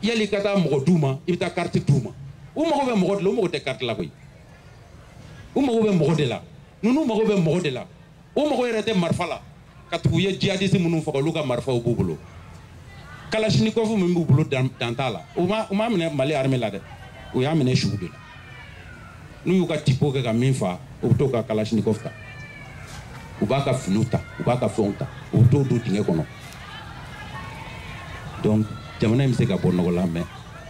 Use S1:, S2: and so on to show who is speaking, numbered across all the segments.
S1: yali ka taa mɔgɔ d'u ma i bɛ taa kariti d'u ma u mago bɛ mɔgɔ de la u mago tɛ kariti la koyi u mago bɛ mɔgɔ de la ninnu mago bɛ mɔgɔ de la u mago yɛrɛ tɛ marifa la ka tugu u ye jihadisi minnu faga olu ka marifaw b'u bolo kalashnikɔfu min b'u bolo dan t'a la u m'a minɛ mali arme la dɛ u y'a minɛ sugu de la n'u y'u ka tipo kɛ ka min fa u bɛ t'o ka kalashnikov ta u b'a ka finiw ta u b'a ka fɛnw ta u bɛ t'o don dingɛ kɔnɔ donc jamana in bɛ se ka bɔ nɔgɔ la mɛ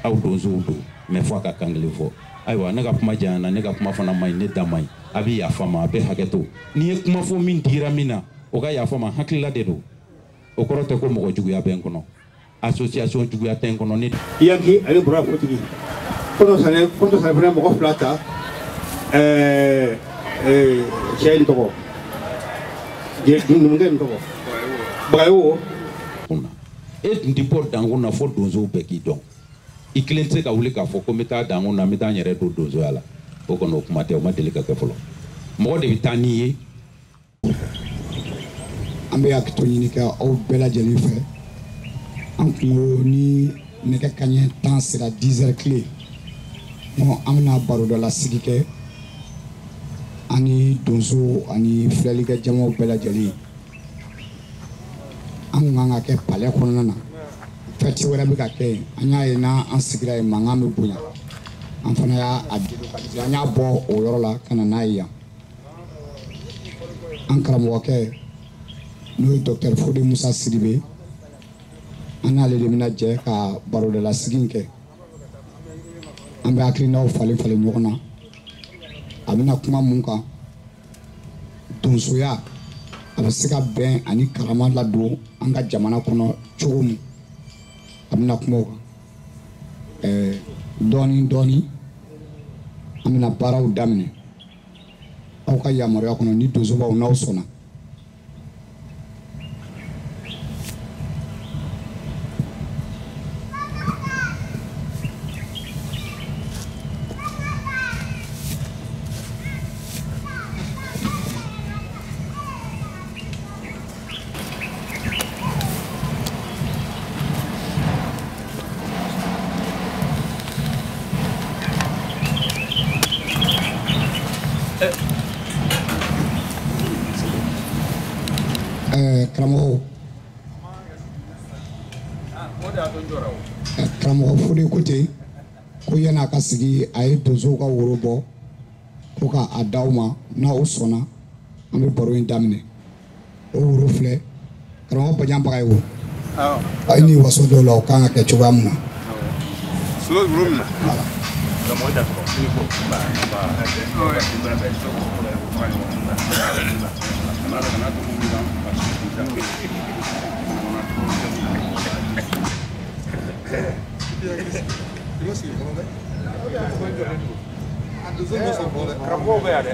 S1: aw donsow don mɛ fo a ka kan kelen fɔ ayiwa ne ka kuma janyana ne ka kuma fana man ɲi ne da man ɲi a bɛ yafa n ma a bɛ hakɛ to ni n ye kuma fɔ min digira min na o ka yafa n ma hakilila de don o kɔrɔ tɛ ko mɔgɔ juguya bɛ n kɔnɔ association juguya tɛ n kɔnɔ ne yanki ale
S2: bɔra kotigi kɔntɔrɔn sanɛ kɔntɔrɔn sanɛ fana mɔgɔ fila ta ɛɛ ɛɛ cɛ in tɔgɔ numukɛ in tɔgɔ bagayogo
S1: kunna e tun tɛ bɔ dankun na fo donsow bɛɛ k'i dɔn i kelen tɛ se ka wuli k'a fɔ ko n bɛ taa dankun na n bɛ taa n yɛrɛ don donsoya la o kɔni o kuma tɛ o ma deli ka kɛ fɔlɔ mɔgɔ de bɛ taa n'i ye
S3: an bɛ hakɛto ɲini kɛ aw bɛɛ lajɛlen fɛ an tun ko ni nɛgɛ kaɲɛ tan sera 10 heures pile ɔ an bɛna barodalasigi kɛ ani donsow ani filɛlikɛ jamaw bɛɛ lajɛlen an tun kan k'a kɛ palɛ kɔnɔna na fɛti wɛrɛ bɛ ka kɛ yen an y'a ye n'an sigira yen mankan bɛ bonya an fana y'a a an y'a bɔ o yɔrɔ la ka na n'a ye yan an karamɔgɔkɛ n'o ye dɔktɛri fode musa sidibe an n'ale de bɛna jɛ ka barodalasigi in kɛ an bɛ hakilinaw falen falen ɲɔgɔn na a bɛna kuma mun kan donsoya a bɛ se ka bɛn ani karama ladon an ka jamana kɔnɔ cogo min a bɛna kuma o kan ɛɛ dɔɔnin dɔɔnin an bɛna baaraw daminɛ aw ka yamaruya kɔnɔ ni donsobaw n'aw sɔnna karamɔgɔw karamɔgɔ fode ko ten ko yanni a ka sigi a ye donsow ka woro bɔ ko k'a d'aw ma n'aw sɔnna an bɛ baro in daminɛ o woro filɛ karamɔgɔ Bajan Bagayɔgɔ a ye ni waso dɔw la o kan ka kɛ cogoya min na Karamɔgɔw bɛ yan dɛ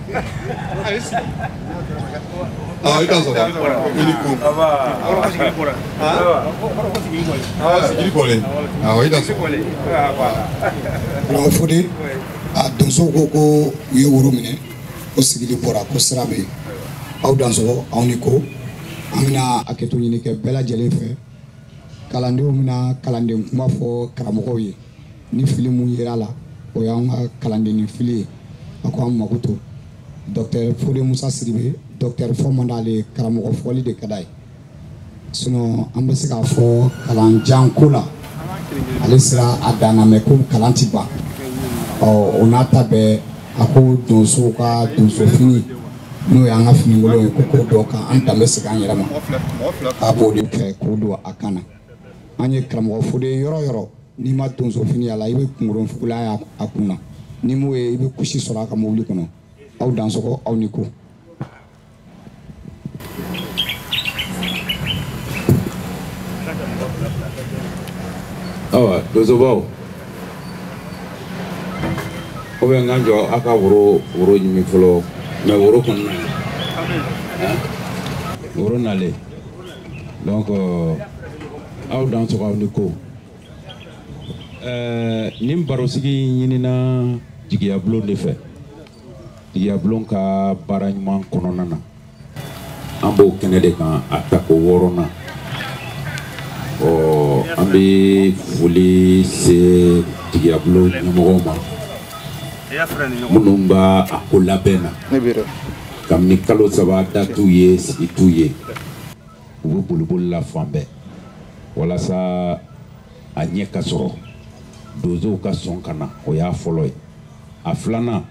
S3: i ka sɔrɔ i ni kun sigili kɔlen awɔ i ka sɔrɔ fode a donsow ko ko u ye woro minɛ ko sigili bɔra ko sira bɛ yen aw dansɔgɔ aw ni ko an bɛna hakɛto ɲini kɛ bɛɛ lajɛlen fɛ kalandenw bɛna kalanden kuma fɔ karamɔgɔw ye ni fili mun yer'a la o y'an ka kalandenni fili ye a ko an makoto dɔktɛr fode musa sidibe dɔktɛr fɔ man d'ale ye karamɔgɔ fɔli de ka d'a ye sinɔn an bɛ se k'a fɔ kalan jan ko la ale sera a dan na mɛ ko kalan ti ban ɔ o n'a ta bɛɛ a ko donsow ka donso fini n'o y'an ka finikolon ye ko k'o don k'an danbe segin an yɛrɛ ma k'a b'o de fɛ k'o don a kan na an ye karamɔgɔ fode yɔrɔ yɔrɔ n'i ma donso fini y'a la i bɛ kunkolo fugulan y'a kun na n'i m'o ye i bɛ kusi sɔrɔ a ka mobili kɔnɔ aw dansɔgɔ aw ni ko
S1: awa donsobaw o bɛ n ka jɔ aw ka woro woro ɲimi fɔlɔ mɛ woro kɔnɔna woro nalen donc euh, aw dansɔgɔ aw ni ko euh, nin barosigi ɲinina jigiyabulon de fɛ jigiyabulon ka baara ɲuman kɔnɔna na an b'o kɛnɛ de kan a tako wɔɔrɔnan ɔ an bɛ foli se jigiyabulon ɲɛmɔgɔw ma minnu b'a a ko labɛn na kabini kalo saba da t'u ye sigi t'u ye u bɛ boliboli la fan bɛɛ walasa a ɲɛ ka sɔrɔ donsow ka sɔn ka na o y'a fɔlɔ ye a filanan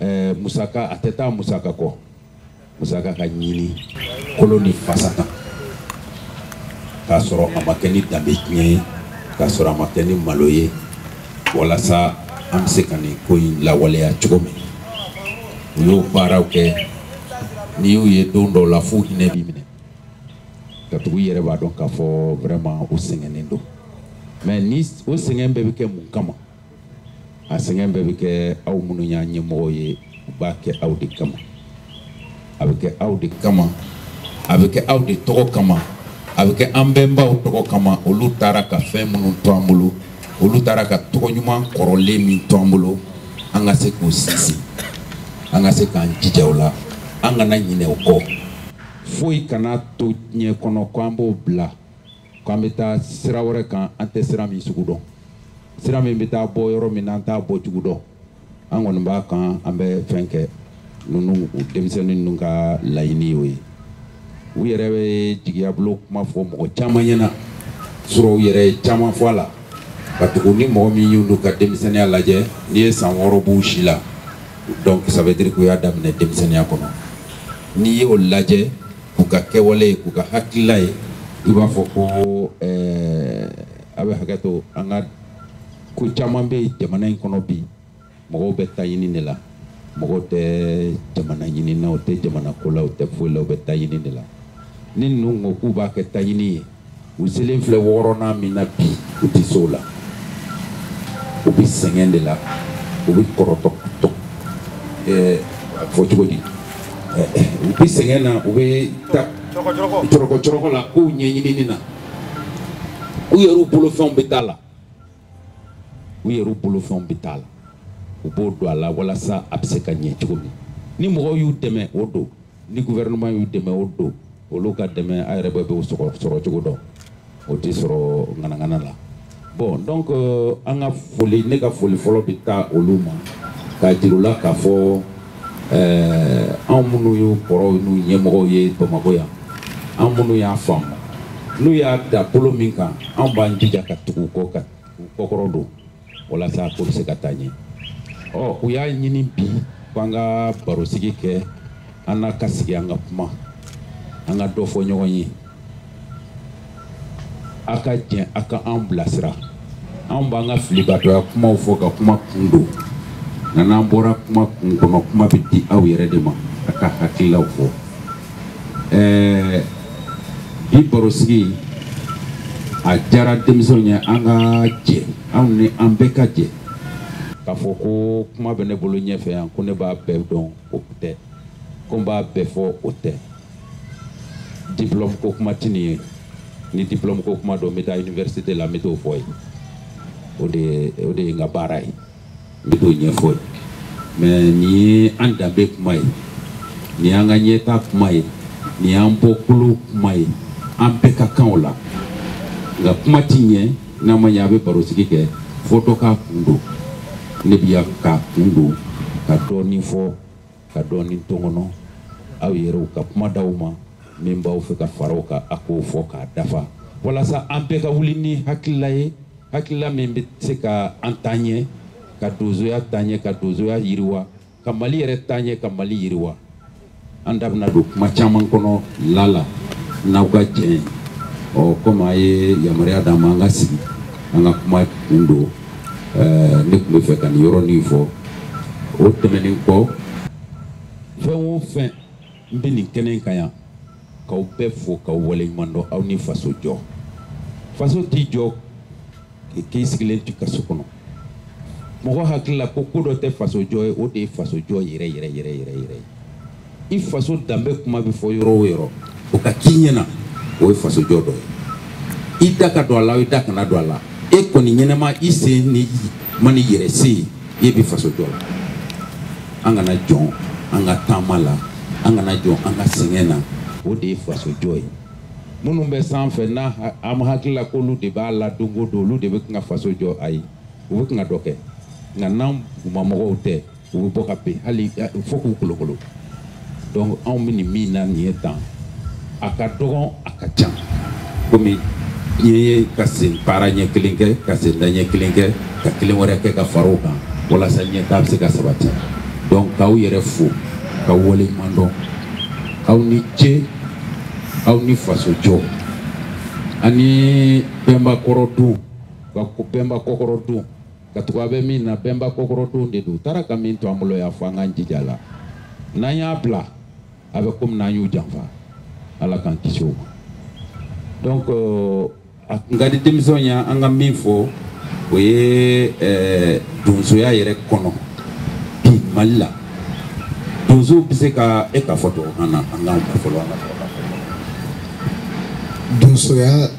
S1: ɛɛ musaka a tɛ taa musaka kɔ musaka ka ɲini kolo ni fasa kan k'a sɔrɔ a ma kɛ ni danbe tiɲɛ ye k'a sɔrɔ a ma kɛ ni malo ye walasa an bɛ se ka nin ko in lawaleya cogo min u y'o baaraw kɛ n'i y'u ye don dɔw la f'u hinɛ b'i minɛ katugu i yɛrɛ b'a dɔn k'a fɔ vraiment u sɛgɛnnen don mais ni o sɛgɛn bɛɛ bɛ kɛ mun kama a sɛgɛn bɛɛ bɛ kɛ aw minnu y'an ɲɛmɔgɔw ye u b'a kɛ aw de kama a bɛ kɛ aw de kama a bɛ kɛ aw de tɔgɔ kama a bɛ kɛ an bɛnbaw tɔgɔ kama olu taara ka fɛn minnu to an bolo olu taara ka tɔgɔ ɲuman kɔrɔlen min to an bolo an ka se k'o sinsin an ka se k'an jija o la an kana ɲinɛ o kɔ foyi kana to diɲɛ kɔnɔ ko an b'o bila k'an bɛ taa sira wɛrɛ kan an tɛ sira min sugu dɔn sira min bɛ taa bɔ yɔrɔ min na an t'a bɔ cogo dɔn an kɔni b'a kan an bɛ fɛn kɛ ninnu u denmisɛnnin ninnu ka laɲini y'o ye u yɛrɛ bɛ jigiya bulon kuma fɔ mɔgɔ caman ɲɛna sɔrɔ u yɛrɛ ye caman fɔ a la katugu ni mɔgɔ min y'olu ka denmisɛnninya lajɛ n'i ye san wɔɔrɔ b'u si la donc ça veut dire k'u y'a daminɛ denmisɛnninya kɔnɔ n'i y'o lajɛ k'u ka kɛwale ye k'u ka hakilila ye i b'a fɔ ko ɛɛ a bɛ hakɛ to an ka ko caman bɛ jamana in kɔnɔ bi mɔgɔw bɛ taɲini de la mɔgɔw tɛ jamana ɲini na u tɛ jamana ko la u tɛ foyi la u bɛ taɲini de la ni ninnu ko k'u b'a kɛ taɲini ye u selen filɛ wɔɔrɔnan min na bi u tɛ se o la u bɛ sɛgɛn de la u bɛ kɔrɔtɔ tɔ ɛɛ a fɔ cogo di u bɛ sɛgɛn na u bɛ taa cɔrɔkɔ cɔrɔkɔ la k'u ɲɛɲinini na u yɛrɛw bolofɛnw bɛ taa la u yɛrɛw bolofɛnw bɛ t'a la u b'o don a la walasa a bɛ se ka ɲɛ cogo min ni mɔgɔw y'u dɛmɛ o don ni gouvernement y'u dɛmɛ o don olu ka dɛmɛ a yɛrɛ bɛɛ b'o sɔrɔ sɔrɔ cogo dɔn o tɛ sɔrɔ ŋanaŋana la bon donc euh, an ka foli ne ka foli fɔlɔ bɛ taa olu ma k'a jir'u la k'a fɔ ɛɛ anw minnu y'u kɔrɔw n'u ɲɛmɔgɔw ye bamakɔ yan an minnu y'a faamu n'u y'a da bolo min kan anw b'an jija ka tugu u kɔ ka u kɔkɔrɔ don walasa ko bɛ se ka taa ɲɛ ɔ u y'a ɲini bi k'an ka barosigi kɛ an na ka sigi an ka kuma an ka dɔ fɔ ɲɔgɔn ye a ka jɛn a ka an bilasira anw b'an ka filibatɔya kumaw fɔ ka kuma kun don nka n'an bɔra kuma kun kɔnɔ kuma bɛ di aw yɛrɛ de ma a k'a hakililaw fɔ ɛɛ bi barosigi a diyara denmisɛnw ye an ka jɛ anw ni an bɛɛ ka jɛ k'a fɔ ko kuma bɛ ne bolo ɲɛfɛ yan ko ne b'a bɛɛ dɔn o tɛ ko n b'a bɛɛ fɔ o tɛ diplôme ko kuma ti nin ye ni diplôme ko kuma don n bɛ taa université la n bɛ t'o fɔ yen o de ye o de ye n ka baara ye n bɛ t'o ɲɛfɔ yen mais nin ye an danbe kuma ye nin y'an ka ɲɛtaa kuma ye nin y'an bɔkolo kuma ye an bɛɛ ka kan o la nka kuma ti ɲɛ n'a ma ɲɛ a bɛ barosigi kɛ fo dɔ k'a kun don ne bɛ yan k'a kun don ka dɔɔnin fɔ ka dɔɔnin to n kɔnɔ aw yɛrɛw ka kuma d'aw ma min b'aw fɛ ka fara o kan a k'o fɔ k'a dafa walasa an bɛɛ ka wuli ni hakilila ye hakilila min bɛ se ka an taa ɲɛ ka donsoya taa ɲɛ ka donsoya yiriwa ka mali yɛrɛ taa ɲɛ ka mali yiriwa an da bɛna don kuma caman kɔnɔ lala n'aw ka jɛn ye ɔ komi a ye yamaruya d'an ma an ka sigi an ka kuma kun don eh, ne tun bɛ fɛ ka nin yɔrɔnin fɔ o tɛmɛnen kɔ fɛn o fɛn n bɛ nin kɛnɛ in kan yan k'aw bɛɛ fo k'aw waleɲuman dɔn aw ni faso jɔ faso tɛ jɔ k'i sigilen t'i ka so kɔnɔ mɔgɔ hakili la ko ko dɔ tɛ faso jɔ ye o de ye faso jɔ yɛrɛ yɛrɛ yɛrɛ yɛrɛ yɛrɛ ye i faso danbe kuma bɛ fɔ yɔrɔ o yɔrɔ o ka k'i ɲɛna o ye faso jɔ dɔ ye i da ka don a la i da kana don a la e kɔni ɲɛnama i se nin ma n'i yɛrɛ sen ye i bɛ faso jɔ la an kana jɔn an ka taama la an kana jɔn an ka sɛgɛn na o de ye faso jɔ ye minnu bɛ sanfɛ n'a an hakili la k'olu de b'a la don o don olu de bɛ kan ka faso jɔ ayi u bɛ kan ka dɔ kɛ nka n'an dugumamɔgɔw tɛ u bɛ bɔ ka bin hali fo k'u kolokolo donc anw bɛ nin min na nin ye tan a ka dɔgɔn a ka ca komi n ye ka sen baara ɲɛ kelen kɛ ka sen da ɲɛ kelen kɛ ka kelen wɛrɛ kɛ ka fara o kan walasa ɲɛtaa bɛ se ka sabati donc k'aw yɛrɛ fo ka waleɲuman dɔn aw ni ce aw ni faso jɔ ani bɛnba kɔrɔdon bɛnba kɔkɔrɔdon katugu an bɛ min na bɛnba kɔkɔrɔdon de don u taara ka min to an bolo u y'a fɔ an k'an jija a la n'an y'a bila a bɛ komi n'an y'u janfa ala k'an kisi o ma donc euh, a tun ka di denmisɛnw ye an ka min fɔ o ye euh, donsoya yɛrɛ kɔnɔ bi mali la donso bɛ se ka e ka fɔ tubabukan na an k'an ka fɔlɔ an ka fɔlɔ donsoya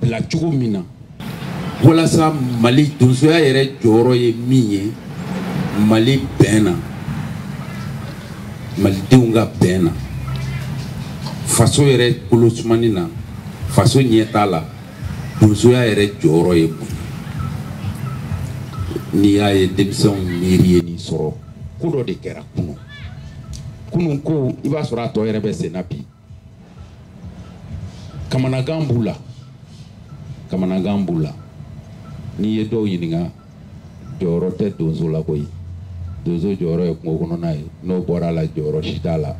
S1: bila cogo min na walasa mali donsoya yɛrɛ jɔyɔrɔ ye min ye mali bɛn na malidenw ka bɛn na faso yɛrɛ kolosumani na faso ɲɛtaa la donsoya yɛrɛ jɔyɔrɔ ye mun ye n'i y'a ye denmisɛnw miiri ye nin sɔrɔ ko dɔ de kɛra kunun kunun ko i b'a sɔrɔ a tɔ yɛrɛ bɛ sen na bi kamanagan b'u la kamanagan b'u la n'i ye dɔw ɲininka jɔyɔrɔ tɛ donso la koyi donso jɔyɔrɔ ye kungo kɔnɔna ye n'o bɔra a la jɔyɔrɔ si t'a la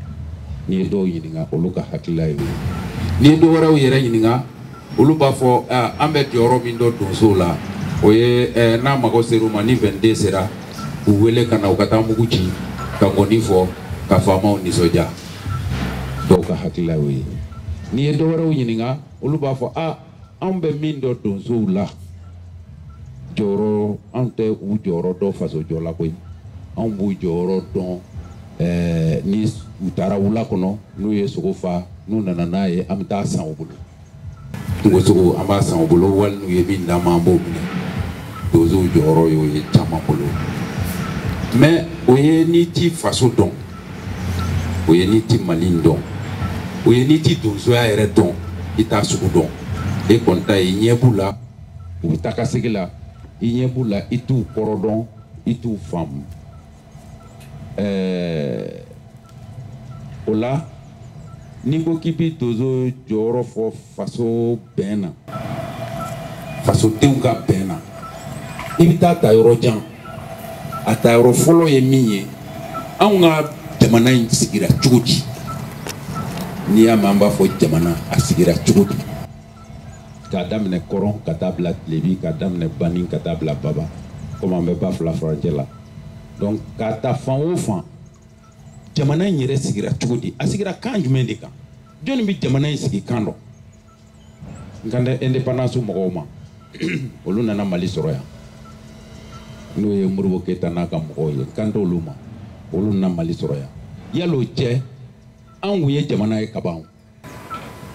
S1: n'i ye dɔw ɲininka olu ka hakilila ye o ye n'i ye dɔ wɛrɛw yɛrɛ ɲininka olu b'a fɔ an bɛ jɔyɔrɔ min dɔn donsow la o ye n'a mago sera u ma ni vingt-deux sera u wele ka na u ka taa mugu ci ka ngɔni fɔ ka faamaw nisɔndiya dɔw ka hakilila y'o ye n'i ye dɔwɛrɛw ɲininka olu b'a fɔ a anw bɛ min dɔn donsow la jɔyɔrɔ anw tɛ u jɔyɔrɔ dɔn fasojɔ la koyi anw b'u jɔyɔrɔ dɔn ɛɛ ni u taara wula kɔnɔ n'u ye sogo fa n'u nana n'a ye an bɛ taa san u bolo kungosogo an b'a san u bolo wali n'u ye min d'an ma an b'o minɛ donsow jɔyɔrɔ y'o ye caman bolo mais o ye n'i t'i faso dɔn o ye n'i t'i mali dɔn o ye n'i t'i donsoya yɛrɛ dɔn i t'a sugu dɔn e kɔni ta ye i ɲɛ b'u la u bɛ taa ka segin la i ɲɛ b'u la i t'u kɔrɔ dɔn i t'u faamu ɛɛ o la n'i ko k'i bɛ donso jɔyɔrɔ fɔ faso bɛn na fasodenw ka bɛn na i bɛ taa ta yɔrɔ jan a ta yɔrɔ fɔlɔ ye min ye anw ka jamana in sigira cogo di n'i y'a mɛn an b'a fɔ jamana a sigira cogo di. k'a daminɛ kɔrɔn ka taa bila tilebi k'a daminɛ bani ka taa bila baba komi an bɛ ba fila furancɛ la donc k'a ta fan o fan jamana in yɛrɛ sigira cogo di a sigira kan jumɛn de kan jɔnni bɛ jamana in sigi kan dɔn n kan tɛ indépendance mɔgɔw ma olu nana mali sɔrɔ yan n'o ye modibo keyita n'a ka mɔgɔw ye n kan tɛ olu ma olu nana mali sɔrɔ yan yal'o cɛ anw kun ye jamana ye kaban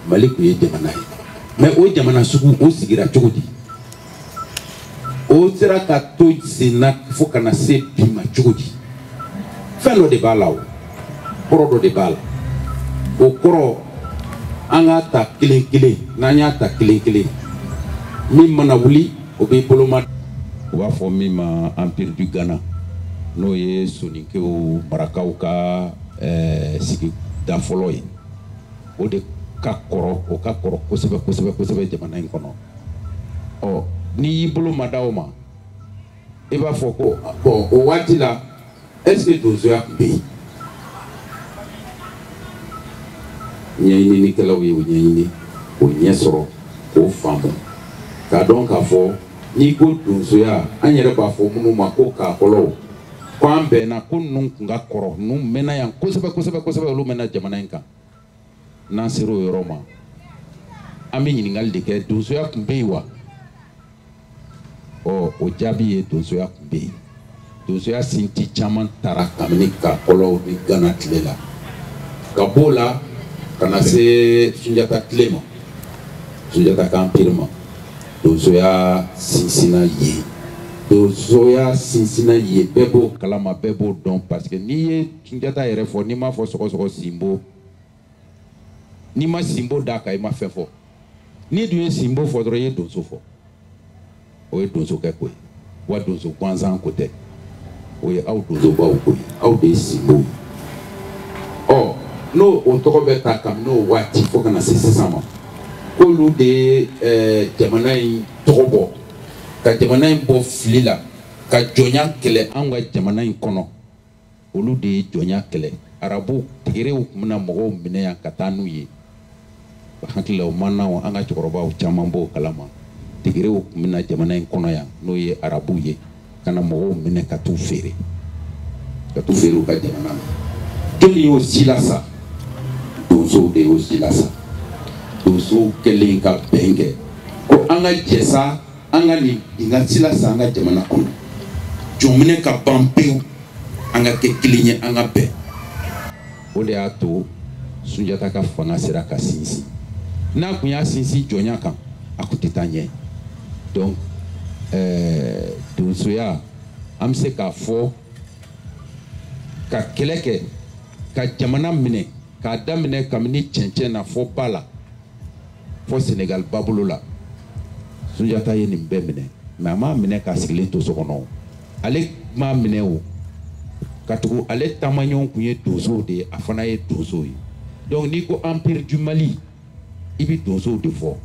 S1: mali kun ye jamana ye mais o jamana sugu o sigira cogo di o sera ka to sen na fo ka na se bi ma cogo di fɛn dɔ de b'a la o kɔrɔ dɔ de b'a la o kɔrɔ an k'a ta kelen kelen n'an y'a ta kelen kelen min mana wuli o bɛ boloma u b'a fɔ min ma empire du ghana n'o ye soninkew marakaw ka ɛɛ sigida fɔlɔ ye o de ka kɔrɔ o ka kɔrɔ kosɛbɛ kosɛbɛ kosɛbɛ jamana in kɔnɔ ɔ n'i y'i bolo ma da o ma i b'a fɔ ko bon o waati la est-ce que donsoya tun bɛ yen ɲɛɲininikɛlaw ye o
S4: ɲɛɲini k'o ɲɛ sɔrɔ k'o faamu k'a dɔn k'a fɔ n'i ko donsoya an yɛrɛ b'a fɔ minnu ma ko kakɔlɔw ko an bɛnna ko ninnu kun ka kɔrɔ ninnu mɛnna yan kosɛbɛ kosɛbɛ kosɛbɛ olu mɛnna jamana in kan n'an sera o yɔrɔ ma an bɛ ɲininkali de kɛ donsoya tun bɛ yen wa ɔ o jaabi ye donsoya tun bɛ yen donsoya sinti caman tara kabini kakɔlɔw ni gana tile la ka b'o la ka na se sunjata tile ma sunjata ka empire ma donsoya sinsinna yen donsoya sinsinna yen bɛɛ b'o kalama bɛɛ b'o dɔn parce que n'i ye sunjata yɛrɛ fɔ n'i m'a fɔ sɔgɔsɔgɔ sinbo n'i ma sinbo d'a kan i ma fɛn fɔ n'i dun ye sinbo fɔ dɔrɔn i ye donso fɔ o ye donsokɛ ko ye wa donso gansan ko tɛ o ye aw donsobaw ko ye aw de ye sinbow ye ɔ n'o o tɔgɔ bɛ ta kabini o waati fo ka na se sisan ma k'olu de ye eh, jamana in tɔgɔ bɔ ka jamana in bɔ fili la ka jɔnya kɛlɛ anw ka jamana in kɔnɔ olu de ye jɔnya kɛlɛ arabu tegerew tun bɛ na mɔgɔw minɛ yan ka taa n'u ye hakili la o maana an ka cɛkɔrɔbaw caman b'o kalama tegerew tun bɛ na jamana in kɔnɔ yan n'o ye arabuw ye ka na mɔgɔw minɛ ka t'u feere ka t'u feere u ka jamana na jɔnni y'o silasa donsow de y'o silasa donsow kɛlen ka bɛn kɛ ko an ka jɛ sa an ka nin binkan silasa an ka jamana kɔnɔ jɔnminɛ ka ban pewu an ka kɛ kelen ye an ka bɛn o de y'a to sunjata ka fanga sera ka sinsin n'a kun y'a sinsin jɔnya kan a kun tɛ taa ɲɛ donc eh, donsoya an bɛ se k'a fɔ ka kɛlɛ kɛ ka jamana minɛ k'a daminɛ kabini cɛncɛn na fo ba la fo senegal babolo la sunjata ye nin bɛɛ minɛ mais a m'a minɛ k'a sigilen to so kɔnɔ ale m'a minɛ o katugu ale taamaɲɔgɔnw kun ye donsow de ye a fana ye donsow ye donc n'i ko empire du mali i bɛ donsow de fɔ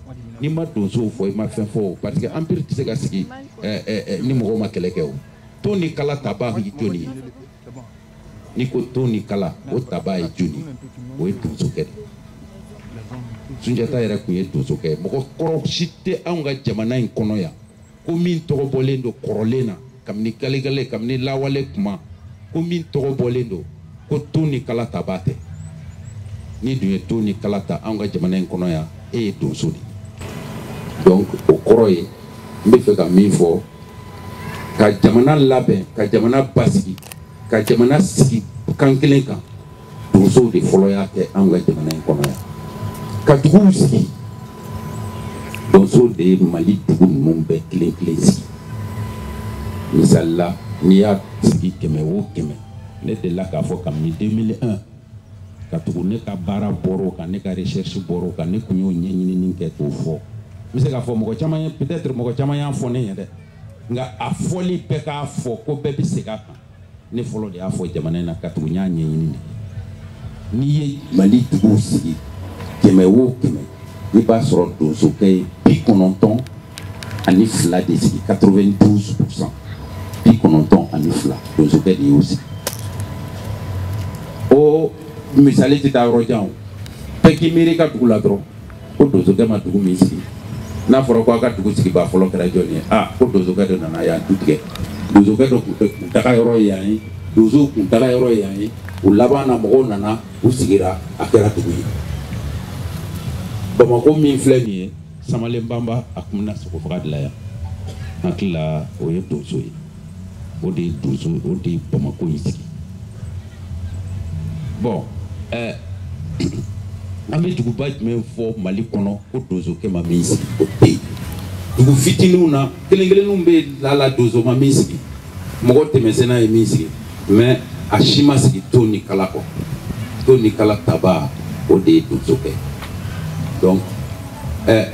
S4: n'i ma donsow fɔ i ma fɛn fɔ o parce que empire tɛ se ka sigi eh, eh, eh, ni mɔgɔw ma kɛlɛ kɛ o ton ni kala taba ye jɔnni ye n'i ko ton ni kala o taba ye jɔnni o ye donsokɛ de sunjata yɛrɛ kun ye donsokɛ ye mɔgɔ kɔrɔ si tɛ anw ka jamana in kɔnɔ yan ko min tɔgɔ bɔlen don kɔrɔlen na kabini galegale kabini lawale kuma ko min tɔgɔ bɔlen don ko ton ni kala taba tɛ n'i dun ye ton ni kala ta anw ka jamana in kɔnɔ yan e ye donso de ye donc o kɔrɔ ye n bɛ fɛ ka min fɔ ka jamana labɛn ka jamana basigi ka jamana sigi kan kelen kan donsow de fɔlɔ y'a kɛ anw ka jamana in kɔnɔ yan ka duguw sigi donsow de ye mali dugu ninnu bɛɛ kelen kelen sigi misali la n'i y'a sigi kɛmɛ o kɛmɛ ne delila k'a fɔ kabini 2001 ka tugu ne ka baara bɔr'o kan ne ka recherche bɔr'o kan ne kun y'o ɲɛɲinini kɛ k'o fɔ n bɛ se k'a fɔ mɔgɔ caman ye peut-être mɔgɔ caman y'a fɔ ne ye dɛ nka a fɔli bɛɛ k'a fɔ ko bɛɛ bɛ segin a kan ne fɔlɔ de y'a fɔ jamana in na ka tugu n y'a ɲɛɲini de n'i ye mali duguw sigi kɛmɛ o kɛmɛ i b'a sɔrɔ donsokɛ ye bi kɔnɔntɔn ani fila de sigi 92 pourcent bi kɔnɔntɔn ani fila donsokɛ de y'o sigi o misali tɛ taa yɔrɔ jan o bɛɛ k'i miiri i ka dugu la dɔrɔn ko donsokɛ ma dugu min sigi n'a fɔra ko a ka dugu sigibaa fɔlɔ kɛra jɔni ye a ko donsokɛ dɔ nana yan tu tigɛ donsokɛ dɔ kuntaga yɔrɔ ye yan ye donso kuntaga yɔrɔ ye yan ye o laban na mɔgɔw nana u sigira a kɛra dugu ye bamakɔ min filɛ nin ye samalen banba a kun bɛ na sogo faga de la yan n hakili la o ye donso ye o de ye donso o de ye bamako in sigi bon ɛɛ an bɛ duguba jumɛn fɔ mali kɔnɔ ko donsokɛ ma min sigi o tɛ yen dugu fitininw na kelen kelenninw bɛ lala donso ma min sigi mɔgɔ tɛmɛsenna ye min sigi mais a si ma sigi ton ni kala kɔ ton ni kala tabaa o de ye donsokɛ donc ɛ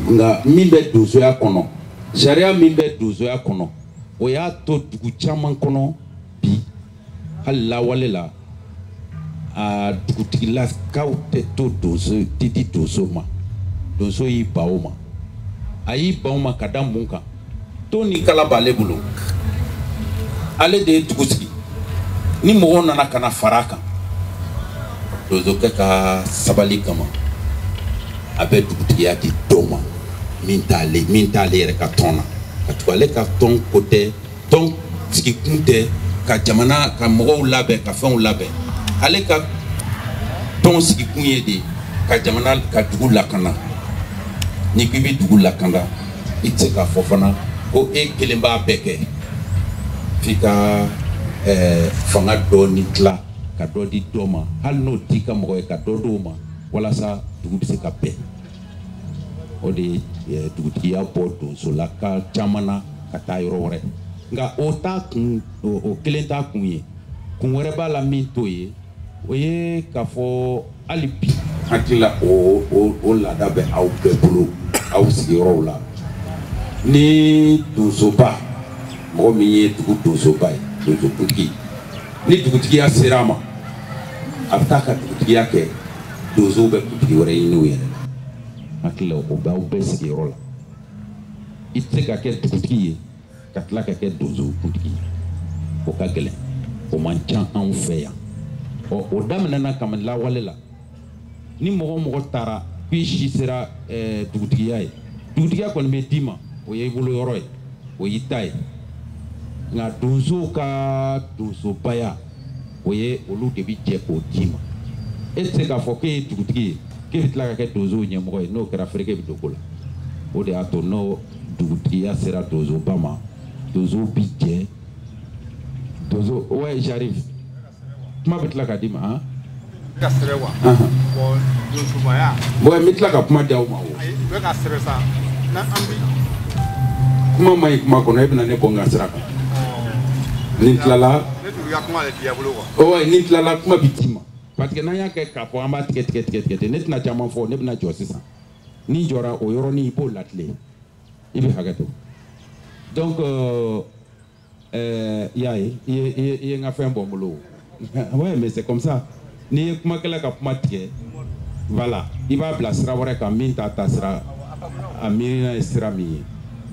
S4: nka min bɛ donsoya kɔnɔ sariya min bɛ donsoya kɔnɔ o y'a to dugu caman kɔnɔ hali lawale la a dugutigilakaw tɛ to donso tɛ di donso ma donso y'i ban o ma a y'i ban o ma ka da mun kan ton ni kala b'ale bolo ale de ye dugu sigi ni mɔgɔw nana ka na fara a kan donsokɛ ka sabali kama a bɛ dugutigiya di dɔ ma min t'ale min t'ale yɛrɛ ka tɔn na ka tugu ale ka tɔn ko tɛ tɔn sigikun tɛ ka jamana ka mɔgɔw labɛn ka fɛnw labɛn ale ka tɔn sigikun ye de ka jamana ka dugu lakana ni k'i bɛ dugu lakana i tɛ se k'a fɔ fana ko e kelen b'a bɛɛ kɛ f'i ka ɛɛ eh, fanga dɔɔni tila ka dɔ di dɔ ma hali n'o t'i ka mɔgɔ ye ka dɔ d'o ma walasa dugu bɛ se ka bɛn. o de ye dugutigiya bɔ donsolaka caman na ka taa yɔrɔ wɛrɛ nka o t'a kun o kelen t'a kun ye kun wɛrɛ b'a la min t'o ye o ye k'a fɔ hali bi hakili la o o o laada bɛ aw bɛɛ bolo aw sigiyɔrɔw la ni donsoba mɔgɔ min ye dugu donsoba ye donsokuntigi ni dugutigiya sera a ma a bɛ taa ka dugutigiya kɛ donsow bɛ kuntigi wɛrɛ ɲini u yɛrɛ la hakili la o b'aw bɛɛ sigiyɔrɔ la i tɛ se ka kɛ dugutigi ye ka tila ka kɛ donsokuntigi ye o ka gɛlɛn o man ca anw fɛ yan ɔ o daminɛna kabini lawale la ni mɔgɔ o mɔgɔ taara k'i si sera eh, dugutigiya ye dugutigiya kɔni bɛ d'i ma o ye i bolo yɔrɔ ye o y'i ta ye nka donsow ka donsobaya o ye olu de bɛ jɛ k'o d'i ma e tɛ se k'a fɔ k'e ye dugutigi ye k'e bɛ tila ka kɛ donsow ɲɛmɔgɔ ye n'o kɛra fereke bɛ don ko la o de y'a to n'o dugutigiya sera donsoba ma donsow bɛ jɛ donso ouais j'arrive kuma bɛ tila ka d'i ma han. ka
S2: sɛbɛn wa. bon donsobaya. bon n bɛ tila
S4: ka kuma di aw ma o. ayi u bɛ ka sɛbɛn sa
S2: na an bi.
S4: kuma man ɲi kuma kɔnɔ e bɛna ne bɔ n ka sira kan. ni n tilala. ne tun ka kuma de
S2: di a bolo quoi. ouais ni n tilala kuma
S4: bɛ d'i ma parce que n'an y'a kɛ k'a fɔ an b'a tigɛ tigɛ tigɛ tigɛ tigɛ ne tɛna caman fɔ ne bɛna jɔ sisan ni n jɔra o yɔrɔnin i b'o latilen i bɛ hakɛ to donc. Euh, ɛɛ y'a ye i ye i ye i ye n ka fɛn bɔ n bolo ouais mais c'est comme ça n'i ye kumakɛla ka kuma tigɛ voilà i b'a bila sira wɛrɛ kan min t'a ta sira a miirina ye sira min ye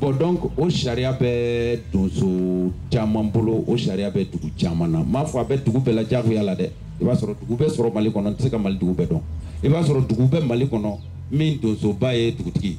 S4: bon donc o sariya bɛ donso caman bolo o sariya bɛ dugu caman na n m'a fɔ a bɛ dugu bɛɛ la diyagoya la dɛ i b'a sɔrɔ dugu bɛɛ sɔrɔ mali kɔnɔ n tɛ se ka mali dugu bɛɛ dɔn i b'a sɔrɔ dugu bɛɛ mali kɔnɔ min donsoba ye dugutigi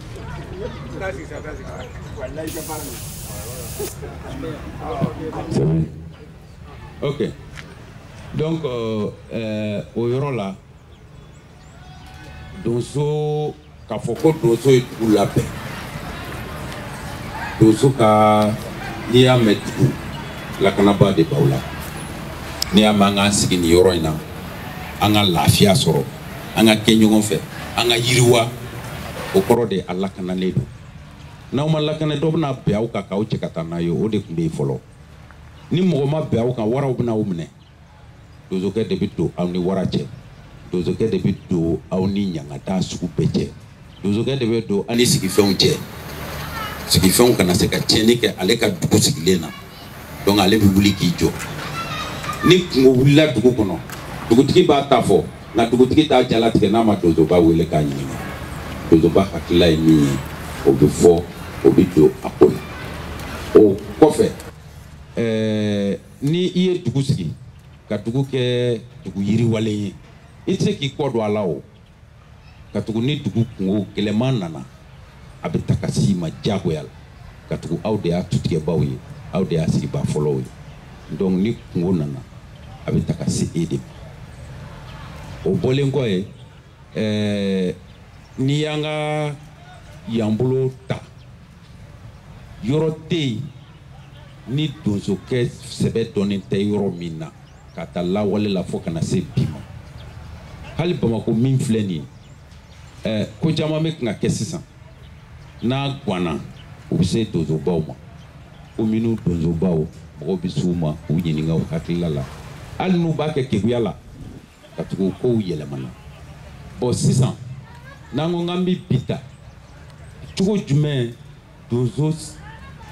S4: ok donc euh, euh, o yɔrɔ la donso k'a fɔ ko donso ye dugu labɛn donso ka n'i y'a mɛn dugu lakanabaa de b'aw la n'i y'a mɛn an k'an sigi nin yɔrɔ in na an ka lafiya sɔrɔ an ka kɛ ɲɔgɔn fɛ an ka yiriwa o kɔrɔ de a lakanalen don n'aw ma lakana dɔ bɛna bɛn aw kan k'aw cɛ ka taa n'a ye o de tun bɛ yen fɔlɔ ni mɔgɔ ma bɛn aw kan waraw bɛna aw minɛ donsokɛ de bɛ don aw ni wara cɛ donsokɛ de bɛ don aw ni ɲangata sugu bɛɛ cɛ donsokɛ de bɛ don a ni sigifɛnw cɛ sigifɛnw kana se ka tiɲɛni kɛ ale ka dugu sigilen na donc ale bɛ wuli k'i jɔ ni kungo wulila dugu kɔnɔ dugutigi b'a ta fɔ nka dugutigi t'a jalatigɛ n'a ma donsoba wele k'a ɲininka donsoba hakilila ye min ye o bɛ fɔ o bɛ don a ko la o kɔfɛ ɛɛ ni i ye dugu sigi ka dugu kɛ dugu yiriwalen ye i tɛ se k'i kɔ don a la o ka tugu ni dugu kungo gɛlɛman nana a bɛ ta ka s'i ma diyagoya la ka tugu aw de y'a tutigɛbaaw ye aw de y'a sigibaa fɔlɔw ye donc ni kungo nana a bɛ ta ka se e de ma o bɔlen kɔ ye ɛɛ n'i y'an ka yan bolo ta yɔrɔ tɛ yen ni donsokɛ sɛbɛ dɔnnen tɛ yɔrɔ min na ka ta lawale la fo ka na se bi ma hali bamako min filɛ nin ye eh, ko caman bɛ kan ka kɛ sisan n'a gwanna u bɛ se donsobaw ma kominiw donsobaw mɔgɔw bɛ s'u ma u ɲininka u hakilila la hali n'u b'a kɛ keguya la ka tugu kow yɛlɛmana bon sisan n'an ko k'an bɛ bi ta cogo jumɛn donso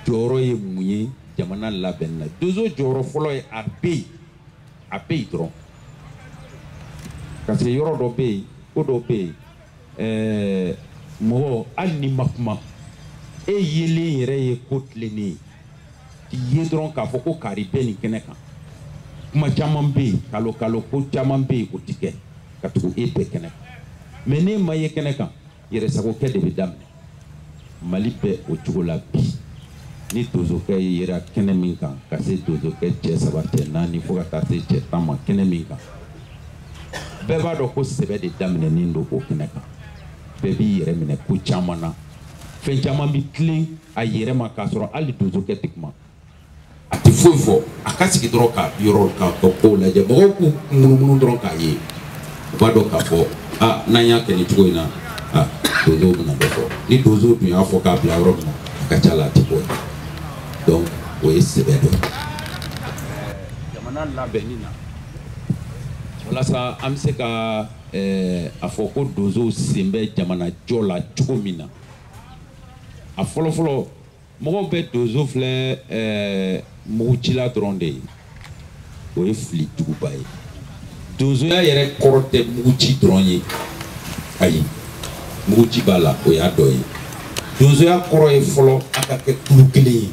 S4: jɔyɔrɔ ye mun ye jamana labɛnni na donso jɔyɔrɔ fɔlɔ ye a bɛ yen a bɛ yen dɔrɔn parce que yɔrɔ dɔ bɛ yen ko dɔ bɛ yen ɛɛ mɔgɔ hali n'i ma kuma e yelen yɛrɛ ye ko tilennen ye k'i ye dɔrɔn k'a fɔ ko kari bɛ nin kɛnɛ kan kuma caman bɛ yen kalo kalo ko caman bɛ yen o tɛ kɛ ka tugu e bɛ kɛnɛ kan mais n'e ma ye kɛnɛ kan yɛrɛsagokɛ de bɛ daminɛ mali bɛ o cogo la bi ni donsokɛ yera kɛnɛ min kan ka se donsokɛ cɛ saba cɛ naani fo ka taa se cɛ tan ma kɛnɛ min kan bɛɛ b'a dɔn ko sɛbɛ de daminɛnen don o kɛnɛ kan bɛɛ b'i yɛrɛ minɛ ko caman na fɛn caman bɛ tilen a yɛrɛ ma k'a sɔrɔ hali donsokɛ tɛ kuma a tɛ foyi fɔ a ka sigi dɔrɔn ka yɔrɔ ka ka kow lajɛ mɔgɔw k'u munumunu dɔrɔn k'a ye u b'a dɔn k'a fɔ a n'an y'a kɛ nin cogo in na a donso bɛna dɔ fɔ ni donso dun y'a fɔ k'a bila yɔrɔ min na a ka ca la a tɛ bɔ yen donc o ye sɛbɛ dɔ ye jamana labɛnni na walasa an bɛ se ka ɛɛ eh, a fɔ ko donsow sen bɛ jamanajɔ la cogo min na a fɔlɔfɔlɔ mɔgɔw bɛ donso filɛ ɛɛ eh, mugutila dɔrɔn de ye o ye fili juguba ye donsoya yɛrɛ kɔrɔ tɛ muguci dɔrɔn ye ayi muguci b'a la o y'a dɔ ye donsoya kɔrɔ ye fɔlɔ a ka kɛ kulu kelen ye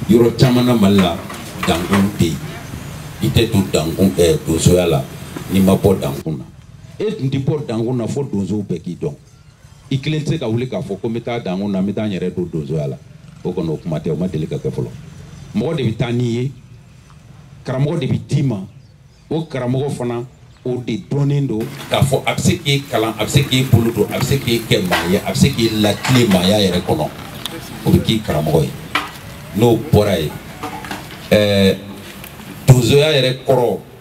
S4: yɔrɔ caman na mali la dankun tɛ yen i tɛ don dankun ɛɛ eh, donsoya la n'i ma bɔ dankun na e tun tɛ bɔ dankun na fo donsow bɛɛ k'i dɔn. i kelen tɛ se ka wuli k'a fɔ ko n bɛ taa dankun na n bɛ taa n yɛrɛ don donsoya la o kɔni o kuma tɛ o ma deli ka kɛ fɔlɔ mɔgɔ de bɛ taa n'i ye karamɔgɔ de bɛ d'i ma o karamɔgɔ fana o de dɔnnen don k'a fɔ a bɛ se k'e kalan a bɛ se k'e bolo don a bɛ se k'e kɛ maa ye a bɛ se k'e latilen maaya yɛrɛ kɔnɔ o bɛ k'i karamɔgɔ ye n'o bɔra yen ɛɛ donsoya yɛrɛ kɔrɔ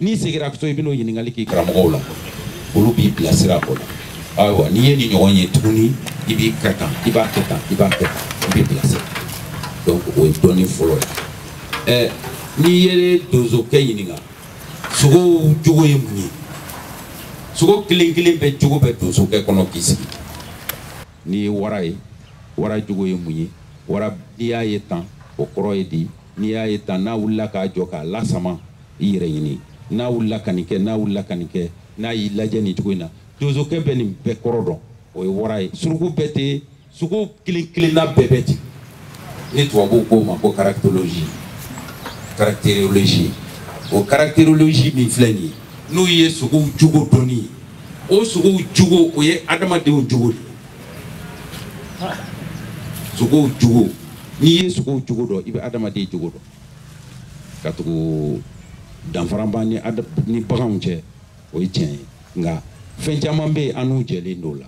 S4: n'i segira so i bɛn'o ɲininkali k'i karamɔgɔw la olu b'i bilasira o la ayiwa n'i ye nin ɲɔgɔn ye tuguni i b'i kɛ tan i b'a kɛ tan i b'a kɛ tan i b'i bilasira donc o ye dɔnni fɔlɔ ye ɛ n'i ye donsokɛ ɲininka sogow jogo ye mun ye sogo kelen kelen bɛɛ jogo bɛ donsokɛ kɔnɔ k'i sigi n'i ye wara ye wara jogo ye mun ye wara n'i y'a ye tan o kɔrɔ ye di n'i y'a ye tan n'a wulila k'a jɔ k'a lasama i yɛrɛ ɲini n'a wulila ka nin kɛ n'a wulila ka nin kɛ n'a y'i lajɛ nin cogo in na donsokɛ bɛ nin bɛɛ kɔrɔ dɔn o ye wara ye suruku bɛ ten sogo kelen kelenna bɛɛ bɛ ten ni tubabuw k'o ma ko caractologie caractérologie o caractérologie min filɛ nin ye n'o ye sogow jogo dɔnni ye o sogow jogo o ye adamadenw jogo de ye sogow jogo n'i ye sogow jogo dɔn i bɛ adamaden jogo dɔn katugu danfara b'an ni baganw cɛ o ye tiɲɛ ye nka fɛn caman bɛ yen an n'u jɛlen don o la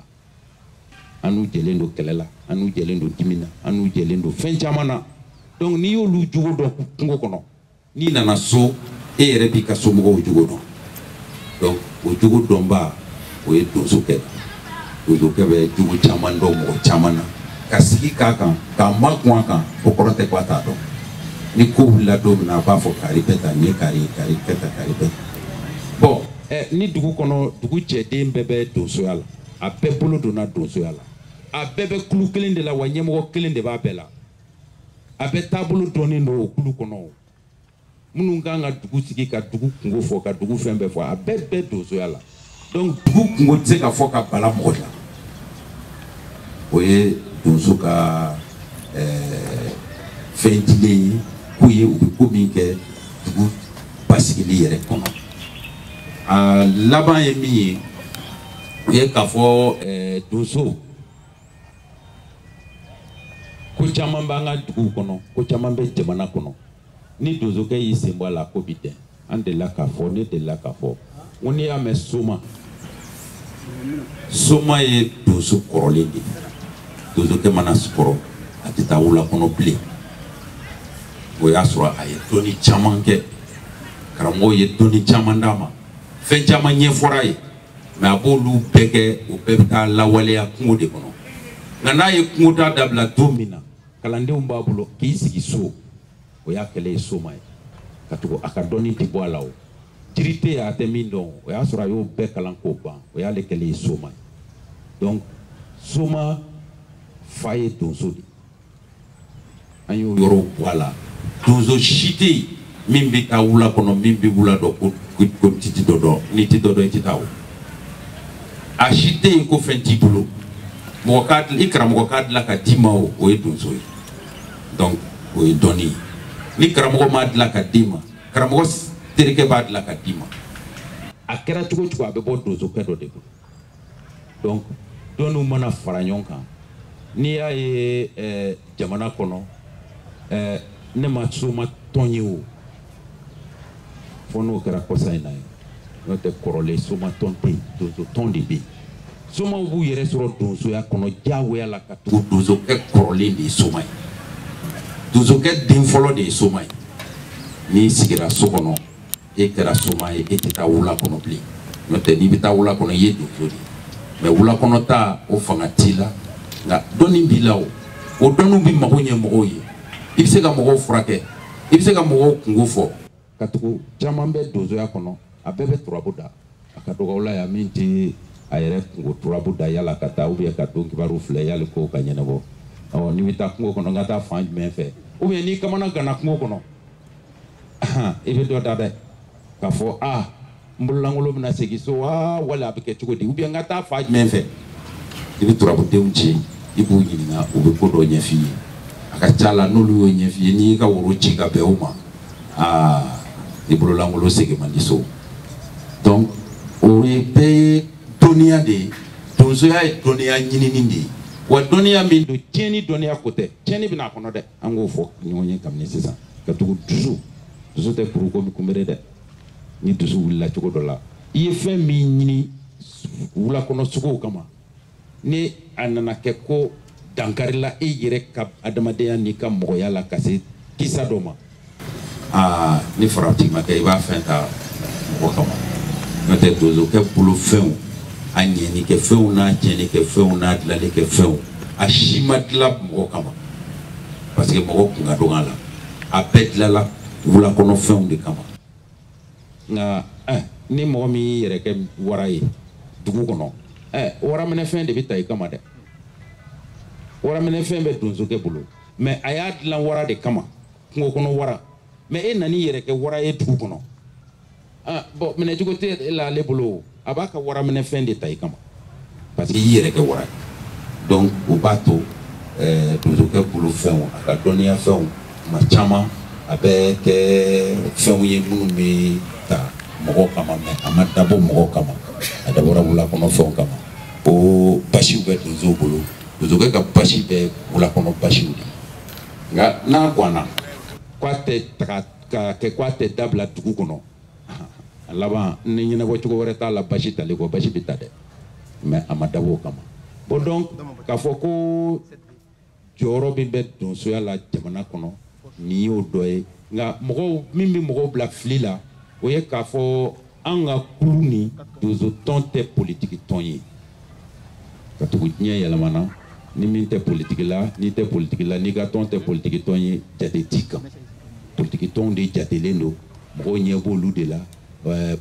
S4: an n'u jɛlen don kɛlɛ la an n'u jɛlen don dimi na an n'u jɛlen don fɛn caman na donc n'i y'olu jogo dɔn kungo kɔnɔ n'i nana so e yɛrɛ b'i ka somɔgɔw jogo dɔn donc o jogo dɔnba o ye donsokɛ donsokɛ bɛ jogo caman dɔn mɔgɔ caman na ka sigi k'a kan k'a makun a kan o kɔrɔ tɛ ko a t'a dɔn ni ko wulila don min na a b'a fɔ kari bɛ tan ni kari kari bɛ tan kari bɛ tan bon ɛ ni dugu kɔnɔ dugu cɛden bɛɛ bɛ donsoya la a bɛɛ bolo donna donsoya la a bɛɛ bɛ kulu kelen de la wa ɲɛmɔgɔ kelen de b'a bɛɛ la a bɛɛ taabolo dɔnnen don o kulu kɔnɔ minnu ka kan ka dugu sigi ka dugu kunko fɔ ka dugu fɛn bɛɛ fɔ a bɛɛ bɛ donsoya la donc dugu kunko tɛ se ka fɔ ka bala mɔgɔ la o ye donso ka ɛɛ eh, fɛn dilen ye k'u ye u bɛ ko min kɛ dugu basigili yɛrɛ kɔnɔ a laban ye min ye o ye k'a fɔ ɛɛ eh, donso. ko caman b'an ka duguw kɔnɔ ko caman bɛ jamana kɔnɔ ni donsokɛ y'i sen bɔ a la ko bi dɛn an delila k'a fɔ ne delila k'a fɔ n ko n'i y'a mɛn soma soma ye donso kɔrɔlen de ye donsokɛ mana kɔrɔ a tɛ taa wula kɔnɔ bilen o y'a sɔrɔ a ye dɔnni caman kɛ karamɔgɔw ye dɔnni caman d'a ma fɛn caman ɲɛfɔra a ye mais a b'olu bɛɛ kɛ o bɛɛ bɛ taa lawaleya kungo de kɔnɔ nka n'a ye kungo taa dabila don min na kalandenw b'a bolo k'i sigi so o y'a kɛlen ye soma ye ka tugu a ka dɔnni tɛ bɔ a la o jiri tɛ yen a tɛ min dɔn o y'a sɔrɔ a y'o bɛɛ kalan k'o ban o y'ale kɛlen ye soma ye donc soma fa ye donso de ye an y'o yɔrɔ bɔ a la donso si tɛ yen min bɛ taa wula kɔnɔ min bɛ wula dɔn ko ko titi dɔ dɔn n'i tɛ dɔ dɔn i tɛ taa o a si tɛ yen ko fɛn t'i bolo mɔgɔ k'a i karamɔgɔ k'a dilan ka d'i ma o o ye donso ye donc o ye dɔnni ye ni karamɔgɔ m'a dilan ka d'i ma karamɔgɔ terikɛ b'a dilan ka d'i ma a kɛra cogo cogo a bɛ bɔ donsokɛ dɔ de bolo donc dɔnniw mana fara ɲɔgɔn kan n'i y'a ye eh, jamana kɔnɔ eh, ne ma soma tɔn ye o fo n'o kɛra kɔsa in na ye n'o tɛ kɔrɔlen soma tɔn tɛ yen donso tɔn de bɛ yen somaw b'u yɛrɛ sɔrɔ donsoya kɔnɔ diyagoya la ka tugu donsokɛ kɔrɔlen de ye soma ye donsokɛ den fɔlɔ de ye soma ye n'i sigira so kɔnɔ e kɛra soma ye e tɛ taa wula kɔnɔ bilen n'o tɛ n'i bɛ taa wula kɔnɔ i ye donso de ye mais wula kɔnɔ taa o fanga t'i la nka dɔnni b'i la o o dɔnniw bɛ mago ɲɛ mɔgɔw ye i bɛ se ka mɔgɔw furakɛ i bɛ se ka mɔgɔw kunko fɔ ka tugu caman bɛ donsoya kɔnɔ a bɛɛ bɛ turabu da a ka dɔgɔ u la yan min tɛ a yɛrɛ kunko turabu da yala ka taa ubiyɛn ka don kibaru filɛ yali ko ka ɲɛnabɔ ɔ n'i bɛ taa kungo kɔnɔ n ka taa fan jumɛn fɛ ubiyɛn n'i kamana ganna kungo kɔnɔ i bɛ dɔ da dɛ k'a fɔ a n bololankolon bɛna segin so wa wala a bɛ kɛ cogo di ubiyɛn n ka taa fan jumɛn fɛ i bɛ turabudenw ci i b'u ɲininka u bɛ ko dɔ ɲɛf'i ye a ka ca la n'olu y'o ɲɛf'i ye n'i y'i ka woro ci ka bɛn o ma aa i bololankolon segin man di so donc o ye bɛɛ ye dɔnniya de ye donsoya ye dɔnniya ɲinini de ye wa dɔnniya min don tiɲɛni dɔnniya ko tɛ tiɲɛni bɛ na a kɔnɔ dɛ an k'o fɔ ɲɔgɔn ye kabini sisan ka tugu dusu dusu tɛ kuru komi kunbere dɛ ni dusu wulila cogo dɔ la i ye fɛn min ɲini wulakɔnɔ sogow kama ni a nana kɛ ko dankarila i yɛrɛ ka adamadenya n'i ka mɔgɔya la ka se kisa dɔ ma aa ni farati ma kɛ i b'a fɛn ta mɔgɔ kama n'o tɛ donsokɛ bolo fɛnw a ɲɛni kɛ fɛnw n'a tiɲɛni kɛ fɛnw n'a dilali kɛ fɛnw a si ma dila mɔgɔ kama parce que mɔgɔ kun ka dɔgɔ a la a bɛɛ dilala wulakɔnɔ fɛnw de kama nka eh, ni mɔgɔ min y'i yɛrɛ kɛ wara ye dugu kɔnɔ eh, waraminɛfɛn de bɛ ta i kama dɛ waraminɛfɛn bɛ donsokɛ bolo mais a y'a dilan wara de kama kungo kɔnɔ wara mais e nan'i yɛrɛ kɛ wara ye dugu kɔnɔ ah, bon minɛcogo tɛ la ale bolo a b'a ka waraminɛfɛn de ta i kama parce que i yɛrɛ kɛ wara ye donc o b'a to eh, donsokɛ bolo fɛnw a ka dɔnniya fɛnw tuma caman a bɛ kɛ fɛnw ye minnu bɛ ta mɔgɔw kama mais a ma dabɔ mɔgɔw kama a dabɔra wulakɔnɔ fɛnw kama ko basiw bɛ donsow bolo donsokɛ ka basi bɛ wulakɔnɔ basiw de nka n'a gwanna ko a tɛ taga k'a kɛ ko a tɛ dabila dugu kɔnɔ a laban ni ɲɛnabɔ cogo wɛrɛ t'a la basi tali kɔ basi bɛ ta dɛ mais a ma dabɔ o kama bon donc k'a fɔ ko jɔyɔrɔ min bɛ donsoya la jamana kɔnɔ nin y'o dɔ ye nka mɔgɔw min bɛ mɔgɔw bila fili la o ye k'a fɔ an ka kulu ni donsotɔn tɛ politiki tɔn ye katugu diɲɛ yɛlɛmana ni min tɛ politiki la n'i tɛ politiki la n'i ka tɔn tɛ politiki tɔn ye jate t'i kan politiki tɔnw de jatelen don mɔgɔw ɲɛ b'olu de la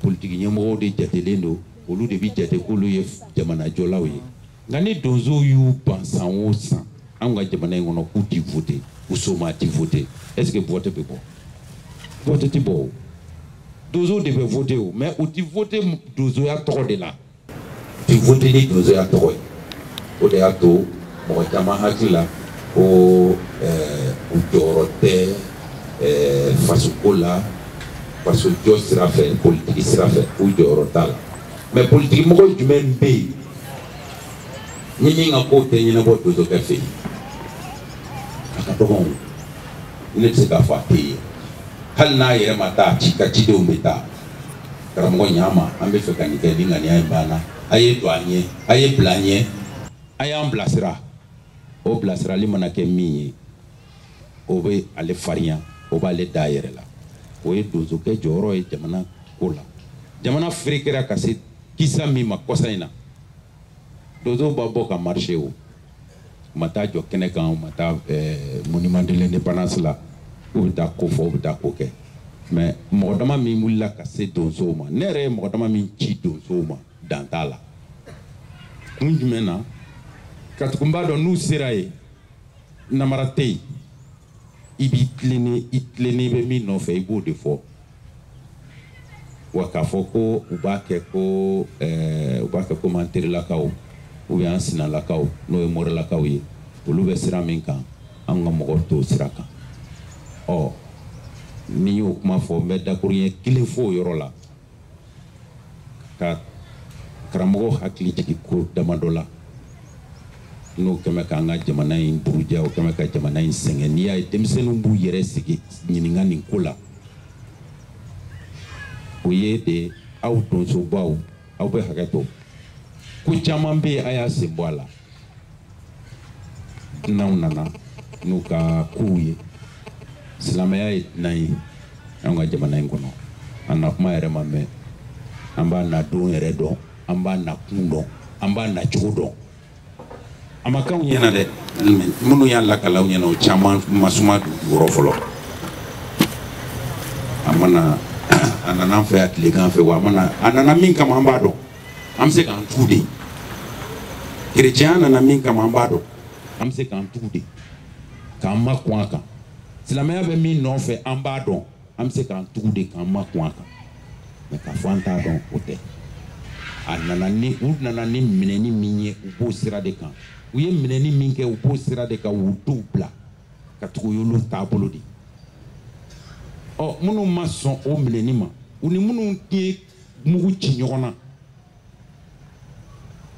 S4: politiki ɲɛmɔgɔw de jatelen don olu de bɛ jate k'olu ye jamanajɔlaw ye nka ni donsow y'u ban san o san anw ka jamana in kɔnɔ k'u ti vote u soma ti vote est ce que vote bɛ bɔ vote ti bɔ o donsow de bɛ vote o mais u ti vote donsoya tɔgɔ de la u ti vote ni donsoya tɔgɔ ye o de y'a to mɔgɔ caman hakili la ko eh, u jɔyɔrɔ tɛ eh, fasoko la fasojɔ sira fɛ politiki sira fɛ u jɔyɔrɔ t'a la mais politiki mɔgɔ jumɛn bɛ yen ni min ka kow tɛ ɲɛnabɔ donsokɛ fɛ yen a ka dɔgɔn ne tɛ se k'a fɔ a tɛ yen hali n'a yɛrɛ ma taa ci ka cidenw bɛ taa karamɔgɔ ɲ'an ma an bɛ fɛ ka nin kɛ nin ŋaniya in b'an na a ye don an ɲɛ a ye bila an ɲɛ a y'an bilasira o bilasirali mana kɛ min ye o bɛ ale farinya o b'ale da a yɛrɛ la o ye donsokɛ jɔyɔrɔ ye jamana ko la jamana ferekera ka se kisa min ma kɔsa in na donsow ma bɔ ka marché u ma taa jɔ kɛnɛ kan u ma taa eh, monument de l'indépendance la u bɛ taa ko fɔ u bɛ taa ko kɛ mais mɔgɔ dama min wulila ka se donsow ma ne yɛrɛ ye mɔgɔ dama min ci donsow ma dan t'a la kun jumɛn na katugu u b'a dɔn n'u sera yen namara tɛ yen i b'i tilennen i tilennen bɛ min nɔfɛ i b'o de fɔ wa k'a fɔ ko u b'a kɛ ko ɛɛ eh, u b'a kɛ komi an terilakaw ou bien an sinalakaw n'o ye morilakaw ye olu bɛ sira min kan an ka mɔgɔw t'o sira kan ɔ ni y'o kuma fɔ n bɛ dakuruɲɛ kelen fɔ o yɔrɔ la ka karamɔgɔ hakili jigin ko damadɔ la n'o kɛ bɛ k'an ka jamana in buruja o kɛ bɛ ka jamana in sɛgɛn n'i y'a ye denmisɛnninw b'u yɛrɛ sigi ɲininka nin ko la o ye de aw donsobaw aw bɛ hakɛ to ko caman bɛ yen a y'a sen bɔ a la n'anw nana n'u ka kow ye silamɛya ye dunan ye anw ka jamana in kɔnɔ a na kuma yɛrɛ ma mɛɛn an b'a na don yɛrɛ dɔn an b'a na kun dɔn an b'a na cogo dɔn a ma k'anw ɲɛna dɛ minnu y'a lakali aw ɲɛna o caman ma suma dugukɔrɔ fɔlɔ a nana an fɛ yan tilegan fɛ wa a nana min kama an b'a dɔn an bɛ se k'an tugu de kerecɛnya nana min kama an b'a dɔn an bɛ se k'an tugu de k'an makun a kan silamɛya bɛ min nɔfɛ an b'a dɔn an bɛ se k'an tugu de k'an makun a kan mais k'a fɔ an t'a dɔn o tɛ u nana ni minɛni min ye u b'o sira de kan u ye minɛni min kɛ u b'o sira de kan u denw bila ka tugu y'olu taabolo de ɔ minnu ma sɔn o minɛni ma u ni minnu ye mugu ci ɲɔgɔn na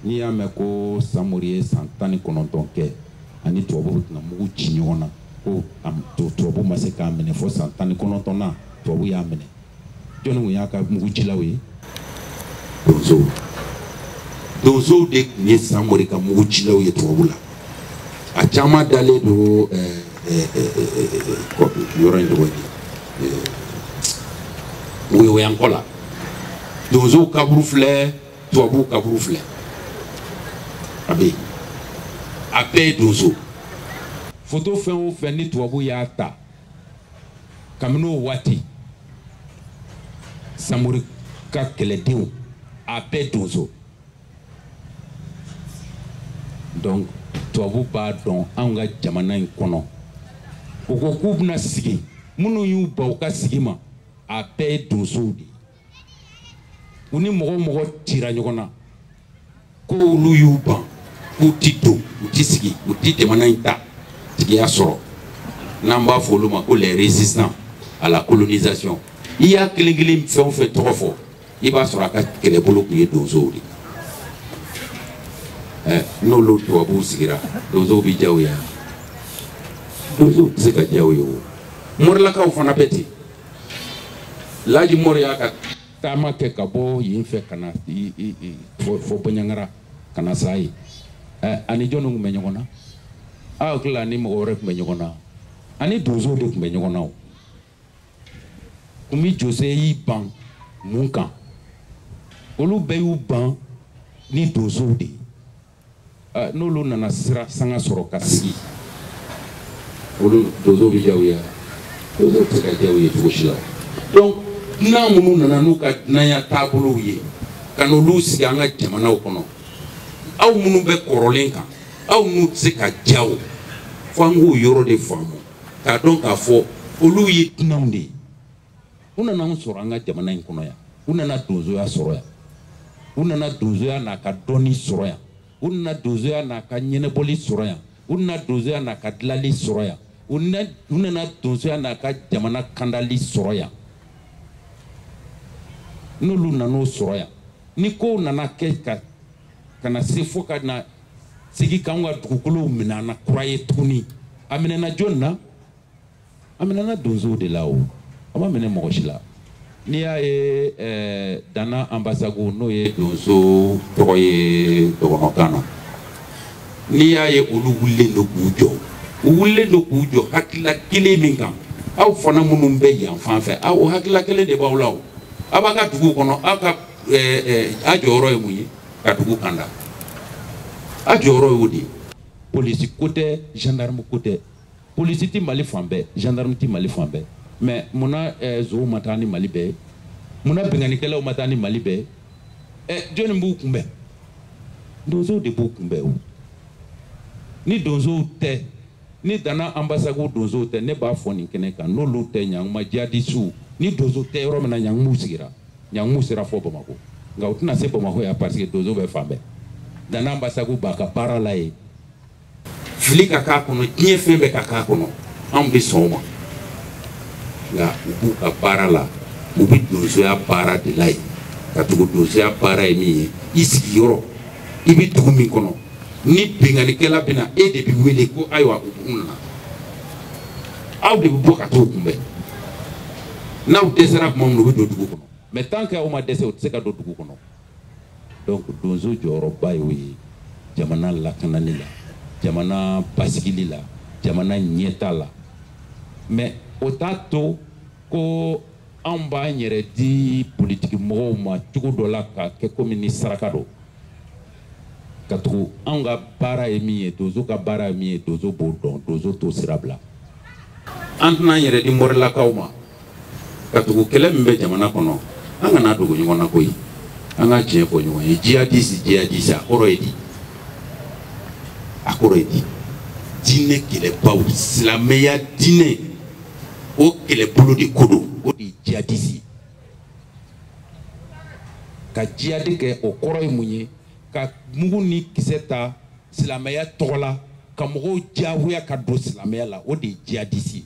S4: n'i y'a mɛn ko samori ye san tan ni kɔnɔntɔn kɛ a ni tubabuw tɛna mugu ci ɲɔgɔn na ko tubabu ma se k'a minɛ fo san tan ni kɔnɔntɔn na tubabu y'a minɛ jɔnni tun y'a ka mugu cilaw ye donsow de tun ye samori ka mugu cilaw ye tubabu la a caman dalen don yɔrɔ in tɔgɔ ye woyowayankɔ la donsow kaburu filɛ tubabuw kaburu filɛ a bɛ yen a bɛɛ ye donso foto fɛn o fɛn ni tubabu y'a ta kabini o waati samori ka kɛlɛdenw a bɛɛ donso donc tubabu b'a dɔn anw ka jamana in kɔnɔ u ko k'u bɛna sigi minnu y'u ban u ka sigi ma a bɛɛ ye donsow de ye u ni mɔgɔ o mɔgɔ cira ɲɔgɔn na ko olu y'u ban k'u ti don u ti sigi u ti jamana in ta tigiya sɔrɔ n'an b'a fɔ olu ma ko les résistants à la colonisation i y'a kelen kelen fɛn o fɛn tɔgɔ fɔ i b'a sɔrɔ a ka kɛlɛbolo tun ye donsow de ye n'olu tubabuw sigira donsow bɛ diya u ye donsow tɛ se ka diya u ye o morilakaw fana bɛ ten laji mori y'a ka taama kɛ ka bɔ yen fɛ ka na fo baɲangara ka na sa yen ani jɔnni tun bɛ ɲɔgɔn na aw hakili la ani mɔgɔ wɛrɛ tun bɛ ɲɔgɔn na ani donsow de tun bɛ ɲɔgɔn na o kumi jose y'i ban mun kan olu bɛɛ y'u ban ni donsow de ye n'olu nana sira sanga sɔrɔ ka sigi olu donsow bɛ diya u ye donsow tɛ se ka diya u ye cogo si la donc dunan minnu nana n'u ka dunanya taabolow ye ka n'olu sigi an ka jamanaw kɔnɔ aw minnu bɛ kɔrɔlen kan aw n'u tɛ se ka diya o fo an k'o yɔrɔ de faamu k'a dɔn k'a fɔ olu ye dunanw de ye u nana anw sɔrɔ an ka jamana in kɔnɔ yan u nana donsoya sɔrɔ yan u nana donsoya n'a ka dɔnni sɔrɔ yan u nana donsoya n'a ka ɲɛnabɔli sɔrɔ yan u nana donsoya n'a ka dilali sɔrɔ yan u nana donsoya n'a ka jamana kandali sɔrɔ yan n'olu nan'o sɔrɔ yan ni kow nana kɛ ka ka na se fo ka na sigi k'anw ka dugukolow minɛ an na kura ye tuguni a minɛna jɔnni na a minɛna donsow de la o a ma minɛ mɔgɔ si la n'i y'a ye eh, dana anbasago n'o ye donso tɔgɔ ye dɔgɔnɔkan na n'i y'a ye olu wulilen don k'u jɔ u wulilen don k'u jɔ hakilila kelen min kan aw fana minnu bɛ yan fan fɛ o hakilila kelen de b'aw la o aw b'a ka dugu kɔnɔ aw ka
S1: a jɔyɔrɔ ye mun ye ka dugu kanda a jɔyɔrɔ y'o de ye polisi ko tɛ gendarme ko tɛ polisi ti mali fan bɛɛ gendarme ti mali fan bɛɛ mais munna zonw ma taa ni mali bɛɛ ye munna binkannikɛlaw ma taa ni mali bɛɛ ye jɔnni b'u kunbɛn donsow de b'u kunbɛn o ni donsow tɛ ni dana anbasagu donsow tɛ ne b'a fɔ nin kɛnɛ kan n'olu tɛ ɲanguma jihadisiw ni donso tɛ yɔrɔ min na ɲanguma u sigira ɲanguma u sera fo bamakɔ nka u tɛna se bamakɔ yan parce que donso bɛ fan bɛɛ dana anbasagu b'a ka baara la yen fili ka k'a kɔnɔ diɲɛ fɛn bɛɛ ka k'a kɔnɔ anw bɛ sɔn o ma nka u b'u ka baara la u bɛ donsoya baara de la yen katugu donsoya baara ye min ye i sigiyɔrɔ i bɛ dugu min kɔnɔ ni binkannikɛla bɛ na e de bɛ wele ko ayiwa jugu nana aw de bɛ bɔ ka t'u kunbɛn n'aw dɛsɛra tuma min na u bɛ don dugu kɔnɔ mais tant que aw ma dɛsɛ u tɛ se ka don dugu kɔnɔ donc donso jɔyɔrɔba y'o ye jamana lakanani la jamana basigili la jamana ɲɛtaa la mais o t'a to ko anw b'an yɛrɛ di politiki mɔgɔw ma cogo dɔ la ka kɛ komi ni saraka don katugu anw ka baara ye min ye donso ka baara ye min ye donso b'o dɔn donso t'o sira bila an tɛn'an yɛrɛ di mɔrilakaw ma katugu kɛlɛ min bɛ jamana kɔnɔ an kana dogo ɲɔgɔn na koyi an ka tiɲɛ fɔ ɲɔgɔn ye jihadisi jihadisi a kɔrɔ ye di a kɔrɔ ye di diinɛ kɛlɛbaw silamɛya diinɛ o kɛlɛbolo de ko don o de ye jihadisi ye ka jihadi kɛ o kɔrɔ ye mun ye ka mugu ni kisɛ ta silamɛya tɔgɔ la ka mɔgɔw diyagoya ka don silamɛya la o de ye jihadisi ye